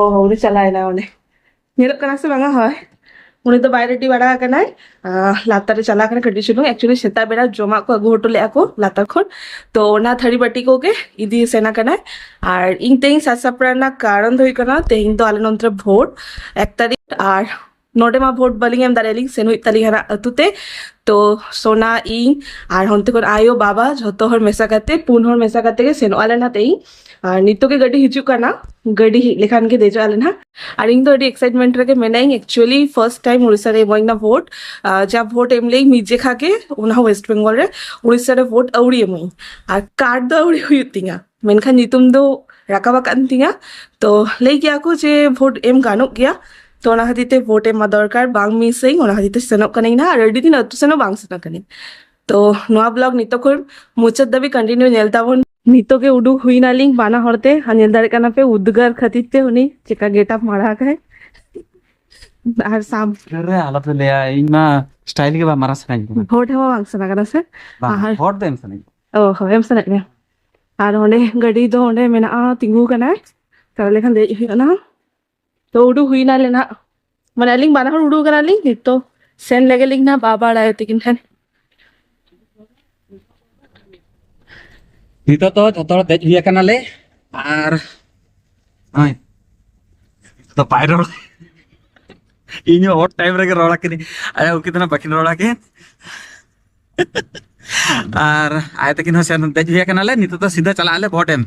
ᱚ ᱩᱱᱤ ᱪᱟᱞᱟᱣᱮᱱᱟ ᱚᱸᱰᱮ ᱧᱮᱞᱚᱜ ᱠᱟᱱᱟ ᱥᱮ ᱵᱟᱝᱟ ᱦᱳᱭ ᱩᱱᱤ ᱫᱚ ᱵᱟᱭ ᱨᱮᱰᱤ ᱵᱟᱲᱟ ᱟᱠᱟᱱᱟᱭ ᱞᱟᱛᱟᱨ ᱨᱮ ᱪᱟᱞᱟᱣ ᱠᱟᱱᱟ ᱠᱟᱹᱴᱤᱡ ᱪᱩᱞᱩᱝ ᱮᱠᱪᱩᱭᱮᱞᱤ ᱥᱮᱛᱟᱜ ᱵᱮᱲᱟ ᱡᱚᱢᱟᱜ ᱠᱚ ᱟᱹᱜᱩ ᱦᱚᱴᱚ ᱞᱮᱫᱼᱟ ᱠᱚ ᱞᱟᱛᱟᱨ ᱠᱷᱚᱱ ᱛᱚ ᱚᱱᱟ ᱛᱷᱟᱹᱨᱤ ᱵᱟᱹᱴᱤ ᱠᱚᱜᱮ ᱤᱫᱤ ᱥᱮᱱ ᱟᱠᱟᱱᱟᱭ ᱟᱨ ᱤᱧ ᱛᱮᱦᱮᱧ ᱥᱟᱡᱽ ᱥᱟᱯᱲᱟᱣ ᱨᱮᱱᱟᱜ ᱠᱟᱨᱚᱱ ᱫᱚ ᱦᱩᱭᱩᱜ ᱠᱟᱱᱟ ᱛᱮᱦᱮᱧ ᱫᱚ ᱟᱞᱮ ᱱᱚᱱᱛᱮ ᱨᱮ ᱵᱷᱳᱴ ᱮᱠ ᱛᱟᱹᱨᱤᱠᱷ ᱟᱨ ᱱᱚᱰᱮ ᱢᱟ ᱵᱷᱳᱴ ᱵᱟᱹᱞᱤᱧ ᱮᱢ ᱫᱟᱲᱮᱭᱟᱞᱤᱧ ᱥᱮᱱ ᱦᱩᱭᱩᱜ ᱛᱟᱹᱞᱤᱧ ᱦᱟᱱᱟ ᱟᱹᱛᱩ ᱛᱮ ᱛᱚ ᱥᱳᱱᱟ ᱤᱧ ᱟᱨ ᱦᱚᱱᱛᱮ ᱠᱷᱚᱱ ᱟᱭᱳ ᱵᱟᱵᱟ ᱡᱷᱚᱛᱚ ᱦᱚᱲ ᱢᱮᱥᱟ ᱠᱟᱛᱮ ᱯᱩᱱ ᱦᱚᱲ ᱢᱮᱥᱟ ᱠᱟᱛᱮ ᱜᱮ ᱥᱮᱱᱚᱜ ᱟᱞᱮ ᱱᱟᱛᱮ ᱤᱧ ᱟᱨ ᱱᱤᱛᱚᱜ ᱜᱮ ᱜᱟᱹᱰᱤ ᱦᱤᱡᱩᱜ ᱠᱟᱱᱟ ᱜᱟᱹᱰᱤ ᱦᱮᱡ ᱞᱮᱠᱷᱟᱱ ᱜᱮ ᱫᱮᱡᱚᱜ ᱟᱞᱮ ᱱᱟᱦᱟᱜ ᱟᱨ ᱤᱧ ᱫᱚ ᱟᱹᱰᱤ ᱮᱠᱥᱟᱭᱤᱴᱢᱮᱱᱴ ᱨᱮᱜᱮ ᱢᱮᱱᱟᱹᱧ ᱮᱠᱪᱩᱭᱮᱞᱤ ᱯᱷᱟᱨᱥᱴ ᱴᱟᱭᱤᱢ ᱩᱲᱤᱥᱥᱟ ᱨᱮ ᱮᱢᱟᱹᱧ ᱱᱟ ᱵᱷᱳᱴ ᱡᱟ ᱵᱷᱳᱴ ᱮᱢ ᱞᱟᱹᱭ ᱢᱤᱫ ᱡᱮᱠᱷᱟ ᱜᱮ ᱚᱱᱟ ᱦᱚᱸ ᱣᱮᱥᱴ ᱵᱮᱝᱜᱚᱞ ᱨᱮ ᱩᱲᱤᱥᱥᱟ ᱨᱮ ᱵᱷᱳᱴ ᱟᱹᱣᱲᱤ ᱮᱢᱟᱹᱧ ᱟᱨ ᱠᱟᱨᱰ ᱫᱚ ᱟᱹᱣᱲᱤ ᱦᱩᱭᱩᱜ ᱛᱤᱧᱟ ᱢᱮᱱᱠᱷᱟᱱ ᱧᱩᱛᱩᱢ ᱫᱚ ᱨᱟᱠᱟᱵ ᱟᱠᱟᱱ ᱛᱤᱧᱟ ᱛᱚ ᱞᱟᱹᱭ ᱜᱮᱭᱟ ᱠᱚ ᱡᱮ ᱵᱷᱳᱴ ᱮᱢ ᱜᱟᱱᱚᱜ ᱜᱮᱭᱟ ᱛᱚ ᱚᱱᱟ ᱠᱷᱟᱹᱛᱤᱨ ᱛᱮ ᱵᱷᱳᱴ ᱮᱢ ᱫᱚᱨᱠᱟᱨ ᱵᱟᱝ ᱢᱤᱥ ᱟᱹᱧ ᱚᱱᱟ ᱠᱷᱟᱹᱛᱤᱨ ᱛᱮ ᱥᱮᱱᱚᱜ ᱠᱟᱹᱱᱟᱹᱧ ᱱᱟᱦᱟᱜ ᱟᱨ ᱟᱹᱰᱤ ᱫᱤᱱ ᱟᱹᱛᱩ ᱥᱮᱱ ᱦᱚᱸ ᱵᱟᱝ ᱥᱮᱱ ᱟᱠᱟᱱᱟᱹᱧ ᱛᱚ ᱱᱚᱣᱟ ᱵᱞᱚᱜ ᱱᱤᱛᱚᱜ ᱠᱷᱚᱱ ᱢᱩᱪᱟᱹᱫ ᱫᱷᱟᱹᱵᱤᱡ ᱠᱚᱱᱴᱤᱱᱤᱭᱩ ᱧᱮᱞ ᱛᱟᱵᱚᱱ ᱱᱤᱛᱚᱜ ᱜᱮ ᱩᱰᱩᱠ ᱦᱩᱭ ᱱᱟᱞᱤᱧ ᱵᱟᱱᱟ ᱦᱚᱲ ᱛᱮ ᱟᱨ ᱧᱮᱞ ᱫᱟᱲᱮᱭᱟᱜ ᱠᱟᱱᱟ ᱯᱮ ᱩᱫᱽᱜᱟᱹᱨ ᱠᱷᱟᱹᱛᱤᱨ ᱛᱮ ᱩᱱᱤ ᱪᱮᱠᱟ ᱜᱮᱴᱟᱯ ᱢᱟᱲᱟ ᱟᱠᱟᱭ ᱟᱨ ᱥᱟᱢ ᱨᱮ ᱟᱞᱚᱯᱮ ᱞᱟᱹᱭᱟ ᱤᱧ ᱢᱟ ᱥᱴᱟᱭᱤᱞ ᱜᱮ ᱵᱟᱝ ᱢᱟᱨᱟ ᱥᱟᱱᱟᱧ ᱠᱟᱱᱟ ᱵᱷᱳᱴ ᱦᱚᱸ ᱵᱟᱝ ᱥᱮᱱ ᱟᱠᱟᱱᱟ ᱥᱮ ᱵᱟᱝ ᱟᱨ- ᱦᱚᱲ ᱫᱚ ᱮᱢ ᱥᱟᱱᱟᱧ ᱠᱟᱱᱟ ᱚ ᱦᱚᱭᱚᱢ ᱥᱮᱱᱚᱜ ᱜᱮᱭᱟ ᱟᱨ ᱚᱸᱰᱮ ᱜᱟᱹᱰᱤ ᱫᱚ ᱚᱸᱰᱮ ᱢᱮᱱᱟᱜᱼᱟ ᱛᱤᱸᱜᱩ ᱠᱟᱱᱟ ᱛᱟᱦᱚᱞᱮ ᱠᱷᱟᱱ ᱫᱮᱡ ᱦᱩᱭᱩᱜ ᱟᱱᱟ ᱛᱚ ᱩᱰᱩᱠ ᱦᱩᱭ ᱱᱟᱞᱮ ᱱᱟᱜ ᱢᱟᱱᱮ ᱟᱹᱞᱤᱧ ᱵᱟᱱᱟ ᱦᱚᱲ ᱩᱰᱩᱠ ᱠᱟᱱᱟᱞᱤᱧ ᱱᱤᱛᱚᱜ ᱥᱮᱱ ᱞᱮᱜᱮ ᱞᱤᱧ ᱱᱟᱦᱟᱜ ᱵᱟᱵᱟ ᱟᱨ ᱟᱭᱳ ᱛᱟᱠᱤᱱ ᱴᱷᱮᱱ ᱱᱤᱛᱚᱜ ᱫᱚ ᱡᱚᱛᱚ ᱦᱚᱲ ᱫᱮᱡ ᱦᱩᱭ ᱟᱠᱟᱱᱟᱞᱮ ᱟᱨ ᱦᱚᱸᱜᱼᱚᱭ ᱫᱚ ᱵᱟᱭ ᱨᱚᱲ ᱤᱧ ᱦᱚᱸ ᱚᱰ ᱴᱟᱭᱤᱢ ᱨᱮᱜᱮ ᱨᱚᱲ ᱟᱠᱤᱱᱤᱧ ᱟᱭᱳ ᱩᱱᱠᱤᱱ ᱫᱚ ᱱᱟᱜ ᱵᱟᱠᱤᱱ ᱨᱚᱲ ᱟᱠᱤᱱ ᱟᱨ ᱟᱭ ᱛᱟᱹᱠᱤᱱ ᱦᱚᱸ ᱥᱮᱱ ᱫᱮᱡ ᱦᱩᱭ ᱟᱠᱟᱱᱟᱞᱮ ᱱᱤᱛᱚᱜ ᱫᱚ ᱥᱤᱫᱷᱟᱹ ᱪᱟᱞᱟᱜ ᱟᱞᱮ ᱵᱷᱳᱴ ᱮᱢ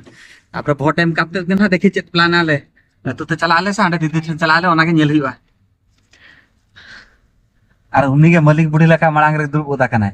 ᱛᱟᱯᱚᱨᱮ ᱵᱷᱳᱴ ᱮᱢ ᱠᱟᱛᱮ ᱜᱮ ᱱᱟᱦᱟᱜ ᱫᱮᱠᱷᱤ ᱪᱮᱫ ᱯᱞᱟᱱ ᱟᱞᱮ ᱱᱤᱛᱚᱜ ᱫᱚ ᱪᱟᱞᱟᱜ ᱟᱞᱮ ᱥᱮ ᱦᱟᱸᱰᱮ ᱫᱤᱫᱤ ᱴᱷᱮᱱ ᱪᱟᱞᱟᱜ ᱟᱞᱮ ᱚᱱᱟᱜᱮ ᱧᱮᱞ ᱦᱩᱭᱩᱜᱼᱟ ᱟᱨ ᱩᱱᱤ ᱜᱮ ᱢᱟᱹᱞᱤᱠ ᱵᱩᱲᱦᱤ ᱞᱮᱠᱟ ᱢᱟᱲᱟᱝ ᱨᱮ ᱫᱩᱲᱩᱵ ᱜᱚᱫ ᱟᱠᱟᱱᱟᱭ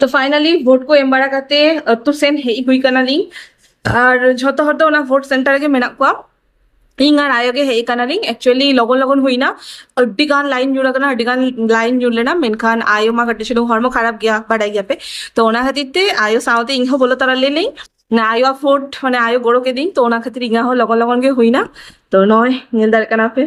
ᱛᱚ ᱯᱷᱟᱭᱱᱟᱞᱤ ᱵᱷᱳᱴ ᱠᱚ ᱮᱢ ᱵᱟᱲᱟ ᱠᱟᱛᱮ ᱟᱹᱛᱩ ᱥᱮᱱ ᱦᱮᱡ ᱦᱩᱭ ᱠᱟᱱᱟᱞᱤᱧ ᱟᱨ ᱡᱷᱚᱛᱚ ᱦᱚᱲ ᱫᱚ ᱚᱱᱟ ᱵᱷᱳᱴ ᱥᱮᱱᱴᱟᱨ ᱨᱮᱜᱮ ᱢᱮᱱᱟᱜ ᱠᱚᱣᱟ ᱤᱧ ᱟᱨ ᱟᱭᱳ ᱜᱮ ᱦᱮᱡ ᱠᱟᱱᱟᱞᱤᱧ ᱮᱠᱪᱩᱭᱮᱞᱤ ᱞᱚᱜᱚᱱ ᱞᱚᱜᱚᱱ ᱦᱩᱭᱱᱟ ᱟᱹᱰᱤ ᱜᱟᱱ ᱞᱟᱭᱤᱱ ᱧᱩᱨ ᱟᱠᱟᱱᱟ ᱟᱹᱰᱤ ᱜᱟᱱ ᱞᱟᱭᱤᱱ ᱧᱩᱨ ᱞᱮᱱᱟ ᱢᱮᱱᱠᱷᱟᱱ ᱟᱭᱳ ᱢᱟ ᱠᱟᱹᱴᱤᱡ ᱪᱩᱞᱩᱝ ᱦᱚᱲᱢᱚ ᱠᱷᱟᱨᱟᱯ ᱜᱮᱭᱟ ᱵᱟᱰᱟᱭ ᱜᱮᱭᱟᱯᱮ ᱛᱚ ᱚᱱᱟ ᱠᱷᱟᱹᱛᱤᱨ ᱛᱮ ᱟᱭᱳ ᱥᱟᱶᱛᱮ ᱤᱧ ᱦᱚᱸ ᱵᱚᱞᱚ ᱛᱚᱨᱟ ᱞᱮᱱᱟᱹᱧ ᱟᱭᱳ ᱵᱷᱳᱴ ᱢᱟᱱᱮ ᱟᱭᱳ ᱜᱚᱲᱚ ᱠᱮᱫᱤᱧ ᱛᱚ ᱚᱱᱟ ᱠᱷᱟᱹᱛᱤᱨ ᱤᱧᱟᱹᱜ ᱦᱚᱸ ᱞᱚᱜᱚᱱ ᱞᱚᱜᱚᱱ ᱜᱮ ᱦᱩᱭᱱᱟ ᱛᱚ ᱱᱚᱜᱼᱚᱭ ᱧᱮᱞ ᱫᱟᱲᱮᱭᱟᱜ ᱠᱟᱱᱟ ᱯᱮ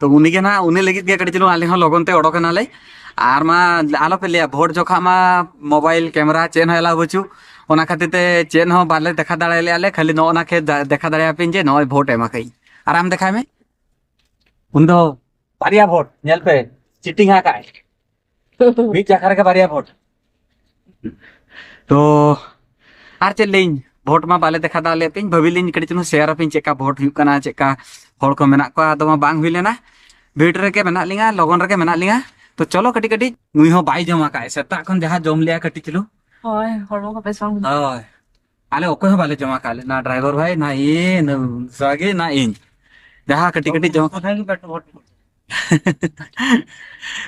ᱛᱚ ᱩᱱᱤᱜᱮ ᱱᱟᱦᱟᱜ ᱩᱱᱤ ᱞᱟᱹᱜᱤᱫ ᱜᱮ ᱠᱟᱹᱴᱤᱡ ᱪᱩᱞᱩᱝ ᱟᱞᱮ ᱦᱚᱸ ᱞᱚᱜᱚᱱ ᱛᱮ ᱚᱰᱚᱠ ᱮᱱᱟᱞᱮ ᱟᱨ ᱢᱟ ᱟᱞᱚᱯᱮ ᱞᱟᱹᱭᱟ ᱵᱷᱳᱴ ᱡᱚᱠᱷᱟ ᱢᱟ ᱢᱳᱵᱟᱭᱤᱞ ᱠᱮᱢᱮᱨᱟ ᱪᱮᱫ ᱦᱚᱸ ᱮᱞᱟᱣ ᱵᱟᱹᱪᱩᱜ ᱚᱱᱟ ᱠᱷᱟᱹᱛᱤᱨ ᱛᱮ ᱪᱮᱫ ᱦᱚᱸ ᱵᱟᱞᱮ ᱫᱮᱠᱷᱟ ᱫᱟᱲᱮ ᱞᱮᱭᱟ ᱞᱮ ᱠᱷᱟᱹᱞᱤ ᱱᱚᱜᱼᱚ ᱱᱟ ᱠᱷᱮ ᱫᱮᱠᱷᱟ ᱫᱟᱲᱮᱭᱟᱯᱮᱧ ᱡᱮ ᱱᱚᱜᱼᱚᱭ ᱵᱷᱳᱴ ᱮᱢᱟ ᱠᱟᱹᱧ ᱟᱨ ᱟᱢ ᱫᱮᱠᱷᱟᱭ ᱢᱮ ᱩᱱᱤ ᱫᱚ ᱵᱟᱨᱭᱟ ᱵᱷᱳᱴ ᱧᱮᱞ ᱯᱮ ᱪᱤᱴᱤᱝ ᱟᱠᱟᱫ ᱢᱤᱫ ᱪᱟᱠᱷᱟ ᱨᱮᱜᱮ ᱵᱟᱨᱭᱟ ᱵᱷᱳᱴ ᱛᱚ ᱟᱨ ᱪᱮᱫ ᱞᱟᱹᱭᱤᱧ ᱵᱷᱳᱴ ᱢᱟ ᱵᱟᱞᱮ ᱫᱮᱠᱷᱟ ᱫᱟᱜ ᱞᱮᱫ ᱯᱮᱧ ᱵᱷᱟᱹᱵᱤᱞᱤᱧ ᱠᱟᱹᱴᱤᱡ ᱪᱩᱞᱩᱝ ᱥᱮᱭᱟᱨ ᱟᱯᱮᱧ ᱪᱮᱫᱠᱟ ᱵᱷᱳᱴ ᱦᱩᱭᱩᱜ ᱠᱟᱱᱟ ᱪᱮᱫᱠᱟ ᱦᱚᱲ ᱠᱚ ᱢᱮᱱᱟᱜ ᱠᱚᱣᱟ ᱟᱫᱚ ᱢᱟ ᱵᱟᱝ ᱦᱩᱭ ᱞᱮᱱᱟ ᱵᱷᱤᱲ ᱨᱮᱜᱮ ᱢᱮᱱᱟᱜ ᱞᱤᱧᱟ ᱞᱚᱜᱚᱱ ᱨᱮᱜᱮ ᱢᱮᱱᱟᱜ ᱞᱤᱧᱟ ᱛᱚ ᱪᱚᱞᱚ ᱠᱟᱹᱴᱤᱡ ᱠᱟᱹᱴᱤᱡ ᱱᱩᱭ ᱦᱚᱸ ᱵᱟᱭ ᱡᱚᱢ ᱟᱠᱟᱫ ᱥᱮᱛᱟᱜ ᱠᱷᱚᱱ ᱡᱟᱦᱟᱸ ᱡᱚᱢ ᱞᱮᱭᱟ ᱠᱟᱹᱴᱤᱡ ᱪᱩᱞᱩᱝ ᱦᱳᱭ ᱦᱚᱲᱢᱚ ᱠᱚ ᱵᱮᱥ ᱵᱟᱝ ᱦᱳᱭ ᱟᱞᱮ ᱚᱠᱚᱭ ᱦᱚᱸ ᱵᱟᱞᱮ ᱡᱚᱢᱟ ᱠᱟᱜ ᱞᱮ ᱱᱟ ᱰᱨᱟᱭᱵᱷᱟᱨ ᱵᱷᱟᱭ ᱱᱟ ᱤᱭᱮ ᱱᱟ ᱥᱟᱜᱮ ᱱᱟ ᱤᱧ ᱡᱟᱦᱟᱸ ᱠᱟᱹᱴᱤᱡ ᱠᱟᱹᱴᱤᱡ ᱡᱚᱢ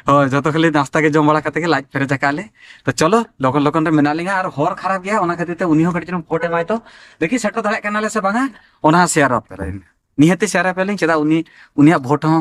ᱦᱳᱭ ᱡᱚᱛᱚ ᱠᱷᱟᱹᱞᱤ ᱱᱟᱥᱛᱟ ᱜᱮ ᱡᱚᱢ ᱵᱟᱲᱟ ᱠᱟᱛᱮ ᱜᱮ ᱞᱟᱡ ᱯᱮᱨᱮᱡ ᱟᱠᱟᱫ ᱞᱮ ᱛᱚ ᱪᱚᱞᱚ ᱞᱚᱜᱚᱱ ᱞᱚᱜᱚᱱ ᱨᱮ ᱢᱮᱱᱟᱜ ᱞᱤᱧᱟ ᱟᱨ ᱦᱚᱨ ᱠᱷᱟᱨᱟᱯ ᱜᱮᱭᱟ ᱚᱱᱟ ᱠᱷᱟᱹᱛᱤᱨ ᱛᱮ ᱩᱱᱤ ᱦᱚᱸ ᱠᱟᱹᱴᱤᱡ ᱪᱩᱞᱩᱝ ᱯᱷᱳᱴ ᱮᱢᱟᱭ ᱛᱚ ᱫᱮᱠᱷᱤ ᱥᱮᱴᱮᱨ ᱫᱟᱲᱮᱭᱟᱜ ᱠᱟᱱᱟᱞᱮ ᱥᱮ ᱵᱟᱝᱟ ᱚᱱᱟ ᱦᱚᱸ ᱥᱮᱭᱟᱨ ᱟᱯᱮᱭᱟᱞᱤᱧ ᱱᱤᱦᱟᱹᱛᱤ ᱥᱮᱭᱟᱨ ᱟᱯᱮᱭᱟᱞᱤᱧ ᱪᱮᱫᱟᱜ ᱩᱱᱤ ᱩᱱᱤᱭᱟᱜ ᱵᱷᱳᱴ ᱦᱚᱸ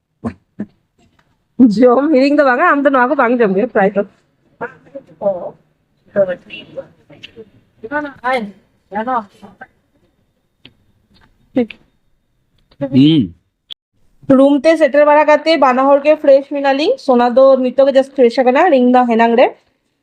ᱡᱚᱢ ᱦᱤᱲᱤᱧ ᱫᱚ ᱵᱟᱝᱟ ᱟᱢ ᱫᱚ ᱱᱚᱣᱟ ᱠᱚ ᱵᱟᱝ ᱡᱚᱢ ᱜᱮᱭᱟ ᱯᱨᱟᱭ ᱫᱚ ᱨᱩᱢ ᱛᱮ ᱥᱮᱴᱮᱨ ᱵᱟᱲᱟ ᱠᱟᱛᱮ ᱵᱟᱱᱟ ᱦᱚᱲ ᱜᱮ ᱯᱷᱨᱮᱥ ᱢᱮᱱᱟᱞᱤᱧ ᱥᱳᱱᱟ ᱫᱚ ᱱᱤᱛᱚᱜ ᱜᱮ ᱡᱟᱥᱴ ᱯᱷᱨᱮᱥ ᱟᱠᱟᱱᱟ ᱨᱤᱝ ᱫᱚ ᱦᱮᱱᱟᱝ ᱨᱮ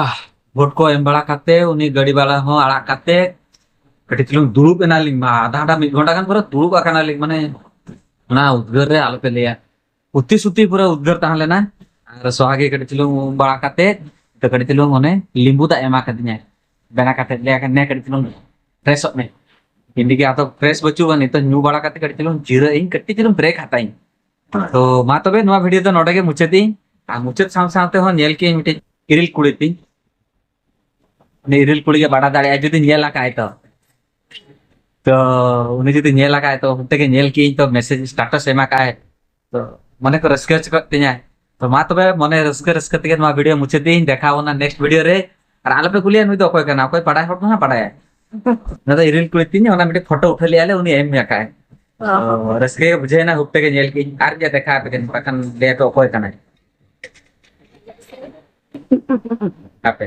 ᱟᱦ ᱵᱷᱳᱴ ᱠᱚ ᱮᱢ ᱵᱟᱲᱟ ᱠᱟᱛᱮ ᱩᱱᱤ ᱜᱟᱹᱰᱤ ᱵᱟᱞᱟ ᱦᱚᱸ ᱟᱲᱟᱜ ᱠᱟᱛᱮ ᱠᱟᱹᱴᱤᱡ ᱪᱩᱞᱩᱝ ᱫᱩᱲᱩᱵ ᱮᱱᱟᱞᱤᱧ ᱢᱟ ᱟᱫᱷᱟ ᱜᱷᱚᱱᱴᱟ ᱢᱤᱫ ᱜᱷᱚᱱᱴᱟ ᱜᱟᱱ ᱯᱩᱨᱟᱹ ᱫᱩᱲᱩᱵ ᱟᱠᱟᱱᱟᱞᱤᱧ ᱢᱟᱱᱮ ᱚᱱᱟ ᱩᱫᱽᱜᱟᱹᱨ ᱨᱮ ᱟᱞᱚᱯᱮ ᱞᱟᱹᱭᱟ ᱩᱛᱤ ᱥᱩᱛᱤ ᱯᱩᱨᱟᱹ ᱩᱫᱽᱜᱟᱹᱨ ᱛᱟᱦᱮᱸ ᱞᱮᱱᱟ ᱟᱨ ᱥᱚᱦᱟᱜᱮ ᱠᱟᱹᱴᱤᱡ ᱪᱩᱞᱩᱝ ᱩᱢ ᱵᱟᱲᱟ ᱠᱟᱛᱮ ᱠᱟᱹᱴᱤᱡ ᱪᱩᱞᱩᱝ ᱚᱱᱮ ᱞᱤᱢᱵᱩ ᱫᱟᱜ ᱮᱢᱟ ᱠᱟᱫᱤᱧᱟᱭ ᱵᱮᱱᱟ ᱠᱟᱛᱮ ᱞᱟᱹᱭ ᱟᱠᱟᱫ ᱱᱮ ᱠᱟᱹᱴᱤᱡ ᱪᱩᱞᱩᱝ ᱯᱷᱨᱮᱥᱚᱜ ᱢᱮ ᱤᱧ ᱜᱮ ᱟᱫᱚ ᱯᱷᱨᱮᱥ ᱵᱟᱹᱪᱩᱜᱼᱟ ᱱᱤᱛᱚᱜ ᱧᱩ ᱵᱟᱲᱟ ᱠᱟᱛᱮ ᱠᱟᱹᱴᱤᱡ ᱪᱩᱞᱩᱝ ᱡᱤᱨᱟᱹᱜ ᱤᱧ ᱠᱟᱹᱴᱤᱡ ᱪᱩᱞᱩᱝ ᱵᱨᱮᱠ ᱦᱟᱛᱟᱣ ᱤᱧ ᱦᱳᱭ ᱛᱚ ᱢᱟ ᱛᱚᱵᱮ ᱱᱚᱣᱟ ᱵᱷᱤᱰᱭᱳ ᱫᱚ ᱱᱚᱰᱮ ᱜᱮ ᱢᱩᱪᱟᱹᱫ ᱤᱧ ᱟᱨ ᱢᱩᱪᱟᱹᱫ ᱥᱟᱶ ᱥᱟᱶ ᱛᱮᱦᱚᱸ ᱧᱮᱞ ᱠᱮᱜ ᱟᱹᱧ ᱢᱤᱫᱴᱤᱡ ᱤᱨᱤᱞ ᱠᱩᱲᱤ ᱛᱤᱧ ᱩᱱᱤ ᱤᱨᱤᱞ ᱠᱩᱲᱤ ᱜᱮ ᱵᱟᱰᱟᱭ ᱫᱟᱲᱮᱭᱟᱜᱼᱟ ᱡᱩᱫᱤ ᱧᱮᱞ ᱟᱠᱟᱜᱼᱟᱭ ᱛᱚ ᱛᱚ ᱩᱱᱤ ᱡᱩᱫᱤ ᱧᱮᱞ ᱟᱠᱟᱜᱼᱟᱭ ᱛᱚ ᱚᱱᱛᱮ ᱜᱮ ᱧᱮᱞ ᱠᱮᱜ ᱟᱹᱧ ᱛᱚ ᱢᱮᱥᱮᱡᱽ ᱥᱴᱟᱴᱟᱥ ᱮᱢ ᱟᱠᱟᱜᱼᱟᱭ ᱛᱚ ᱢᱚᱱᱮ ᱠᱚ ᱨᱟᱹᱥᱠᱟᱹ ᱦᱚᱪᱚ ᱠᱚᱜ ᱛᱤᱧᱟᱭ ᱛᱚ ᱢᱟ ᱛᱚᱵᱮ ᱢᱚᱱᱮ ᱨᱟᱹᱥᱠᱟᱹ ᱨᱟᱹᱥᱠᱟᱹ ᱛᱮᱜᱮ ᱱᱚᱣᱟ ᱵᱷᱤᱰᱤᱭᱳ ᱢᱩᱪᱟᱹᱫ ᱫᱤᱧ ᱫᱮᱠᱷᱟᱣ ᱵᱚᱱᱟ ᱱᱮᱠᱥᱴ ᱵᱷᱤᱰᱤᱭᱳ ᱨᱮ ᱟᱨ ᱟᱞᱚᱯᱮ ᱠᱩᱞᱤᱭᱟ ᱱᱩᱭ ᱫᱚ ᱚᱠᱚᱭ ᱠᱟᱱᱟ ᱚᱠᱚᱭ ᱵᱟᱰᱟᱭ ᱦᱚᱲ ᱫᱚ ᱦᱟᱸᱜ ᱵᱟᱰᱟᱭᱟ ᱱᱚᱣᱟ ᱫᱚ ᱤᱨᱤᱞ ᱠᱩᱲᱤ ᱛᱤᱧ ᱚᱱᱟ ᱢᱤᱫᱴᱮᱡ ᱯᱷᱳᱴᱳ ᱩᱴᱷᱟᱹᱣ ᱞᱮᱫᱼᱟ ᱞᱮ ᱩᱱᱤ ᱮᱢ ᱢᱮ ᱠᱟᱭ ᱨᱟᱹᱥᱠᱟᱹ ᱜᱮ ᱵᱩᱡᱷᱟᱹᱣᱮᱱᱟ ᱦᱩᱯ ᱛᱮᱜᱮ ᱧᱮᱞ ᱠᱮᱫ ᱟᱨ ᱡᱮ ᱫᱮᱠᱷᱟ ᱟᱯᱮ ᱠᱟᱱᱟ ᱵᱟᱠᱷᱟᱱ ᱞᱟᱹᱭ ᱟᱯᱮ ᱚᱠᱚᱭ ᱠᱟᱱᱟᱭ ᱦᱟᱯᱮ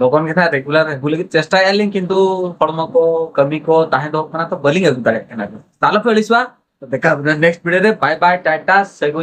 ᱞᱚᱜᱚᱱ ᱜᱮ ᱦᱟᱸᱜ ᱨᱮᱜᱩᱞᱟᱨ ᱟᱹᱜᱩ ᱞᱟᱹᱜᱤᱫ ᱪᱮᱥᱴᱟᱭᱮᱫᱼᱟ ᱞᱤᱧ ᱠᱤᱱᱛᱩ ᱦᱚᱲᱢᱚ ᱠᱚ ᱠᱟᱹᱢᱤ ᱠᱚ ᱛᱟᱦᱮᱸ ᱫᱚᱜ ᱠᱟᱱᱟ ᱛᱚ ᱵᱟᱹᱞᱤᱧ ᱟᱹᱜᱩ ᱫᱟᱲᱮᱭᱟᱜ ᱠᱟᱱᱟ ᱛᱟᱦᱚᱞᱮ ᱯᱮ ᱟᱹᱲᱤᱥᱚᱜᱼᱟ ᱫᱮᱠᱷᱟ ᱱᱮᱠᱥᱴ ᱵᱷᱤᱰᱤᱭᱳ ᱨᱮ ᱵᱟᱭ ᱵᱟᱭ ᱴᱟᱴᱟ ᱥᱟᱹᱜᱩᱱ